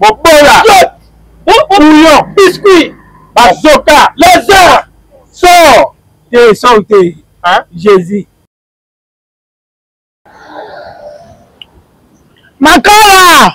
mobola bouillon biscuit bazoka lazare sor te sor te jésus makala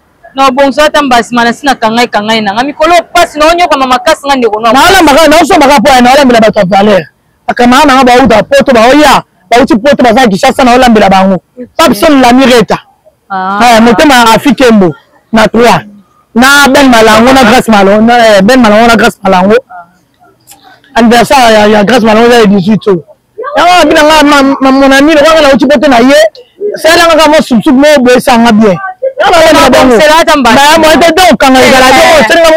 na obongisa ata mbasima na si na kangai kangai na nga mikolo pasi na onyokwama makasi nga ndeko nalambaka naosombaka mpo ya naolambela bato ya valeur bakamara na nga bauta poto baoya bauti poto baza kishasa naolambela bango papson lamireta ah. eh, motema afi kembo na trois na ben malango na grace malango eh, ben malango na grace malango ah. anniversaire ya grace malango eza ya 18 oyo yango abi na nga ma mon ami lokola nga nauti poto na ye sala nga kaka mwa sukusuku moko boye esanga bien okanga ezala te osenga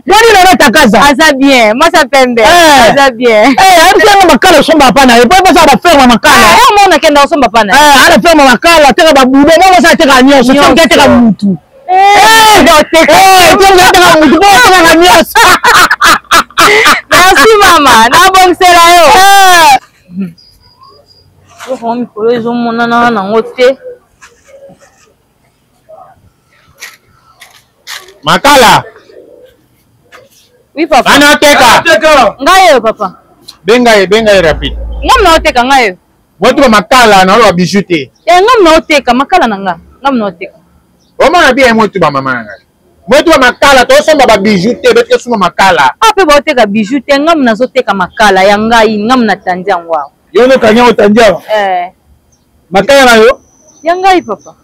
moni lelo takaza aza bien masa pembe aza bien abisenga makala osomba apa na ye po epesa baferma makala mona kenda osomba apa na ye ana ferma makala ateka babudo moko asa ateka nyonso soki ateka mutu merci mama nabongisela yo okongo mikolo ezomonana nango te makala oui papa ana teka ngai oyo papa benga ye benga ye rapide ngai mna oteka ngai oyo Moto ba makala na ba bijoux te. Eh ngam na oteka makala na nga. Ngam na oteka. Omona bien moto ba mama na nga. Moto ba makala to somba ba bijoux te, bete suma makala. Ah pe ba oteka bijoux te, ngam na zoteka makala ya ngai, ngam na tandi yango. Yo no kanya otandi yango. Eh. Makala na yo? Ya ngai papa.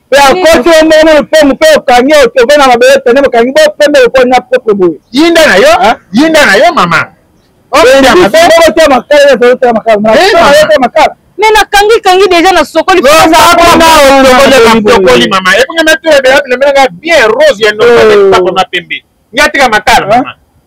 mpe akoti yo moko na lopango mpe okangi otobe na mabele pene bokangi bopembe lokola na propre boye yinda na yo yinda na yo mama okotoya makala ezalotala makala makala me nakangi kangi deja na sokoli sokoli mama ebonga matula ebela bilemelanga bien rose ya nopapakoma pembe ngatika makala mama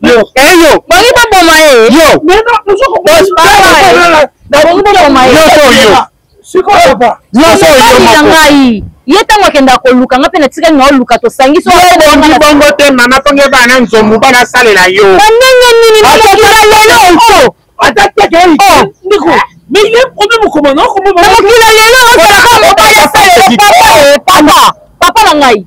yo eh yo bangi baboma ye yo bangi baboma ye nyonso yo sikoyo papa nyonso yo moko ngai ye ntango akenda koluka nga mpe natikali na oluka tosangisi obongi bongo te mama mponge bana nzomu bana salela yo na ndenge nini mokila lelo oso ata teke ndeko mais ye obe mokoma na okoma na mokila lelo osalaka mobali asalelo papa papa papa na ngai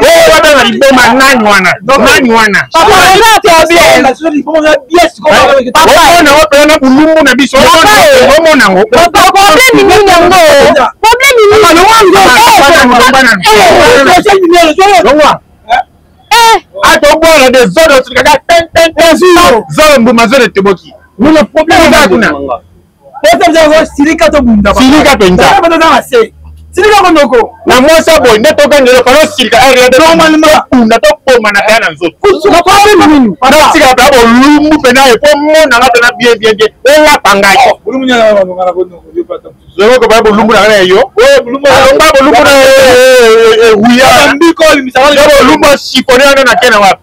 oyo babanga liboma nani wana nani wana omona opela na bulumbu na biso omona ngo atobwana de zolo otikaka zolo mbuma zolo eteboki kuna silika tobunda silika penza silika konoko na mwasi ya boye nde togangela pano silika rtobunda tokoma na kaya na nzotonatika pena bolumbu pena ye po monanga pena bien bien bien olapa ngai zokoka pena bolumbu na kana ya yo bolumbu na eruya bolumbu asipone wana na kena wapi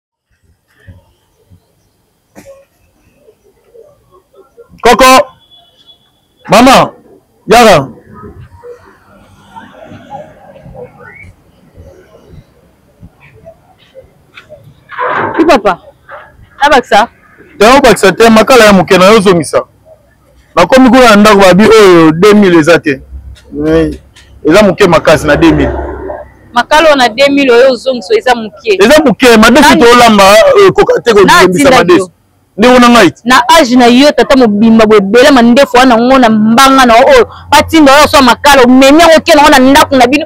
koko mama yara papa nabakisa te obakisa te makala ya moke na yo ozongisa bakomi kuna na ndako babi oyo 2000 eza te eza moke makasi na 2000 makalo na 2000 oyo ozongiso eza moke eza moke madesu tolamba euh, ekoka te kobimisa madesu ndeko na ngai na age na yo tata mobimba boye ebele mandefu wana yango na mbanga na oyo batinda oyo aswa makalo omemi yango oke nango na ndako na bino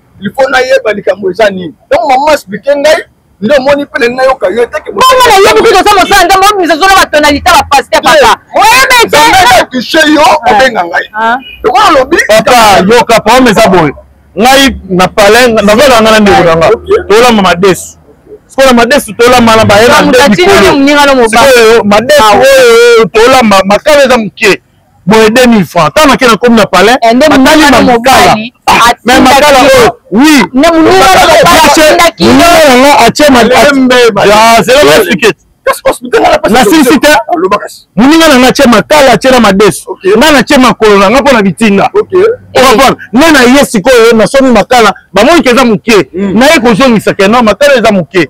il faut nayeba likambo eza nini donc mama explike ngai nde omoni mpe nani nayoka yo te bongo nayebi kutu oza mosala nzambe obimisa zolo batonalite ya bapaster papa oyebeteatushe yo ah. obenga ngai ah. lokola olobi papa yoka problème eza boye ngai na palin nazolaka ngai na ndeko na nga tolamba madesu sikoyo madesu tolamba na bayena nde mikolo sikoyo madesu ah, oyo tolamba makala eza moke boye 2000 francs ntango nake nakomi na palais eh, batali makala ah, me makala oyo oui yango atie nasilisi te moninga nanga atie makala atie na madesu nga natie makolo nanga mpo na bitinda okapana nga na ye sikoyo nasomi makala bamonike eza moke hmm. naye kozongisa keno makala eza moke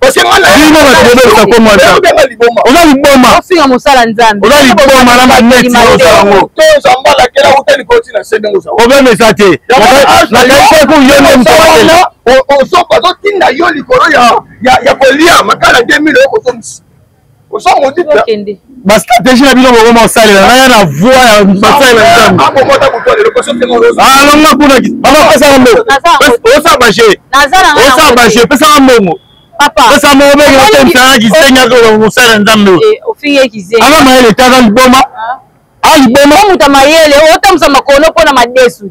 bino bato bobebisa kombo oza liboma oza liboma na maneti ozalango problème eza te nakaisaki yo nde motoazotinda yo likolo ya kolia makala 2000 okozongisa oza modite tokende ba stratégie na bino bokoma kosalela naya na voix ya basalela nzambe abokota kutu lelo koso te molozi alonga kuna baba pesa na mbongo osa baje osa baje pesa na mbongo papa pesa mo obenge na temsa na kisenga ko mosala nzambe ofingi eh, kisenga ala mayele tata liboma ah. a liboma muta mayele otamsa makono pona madesu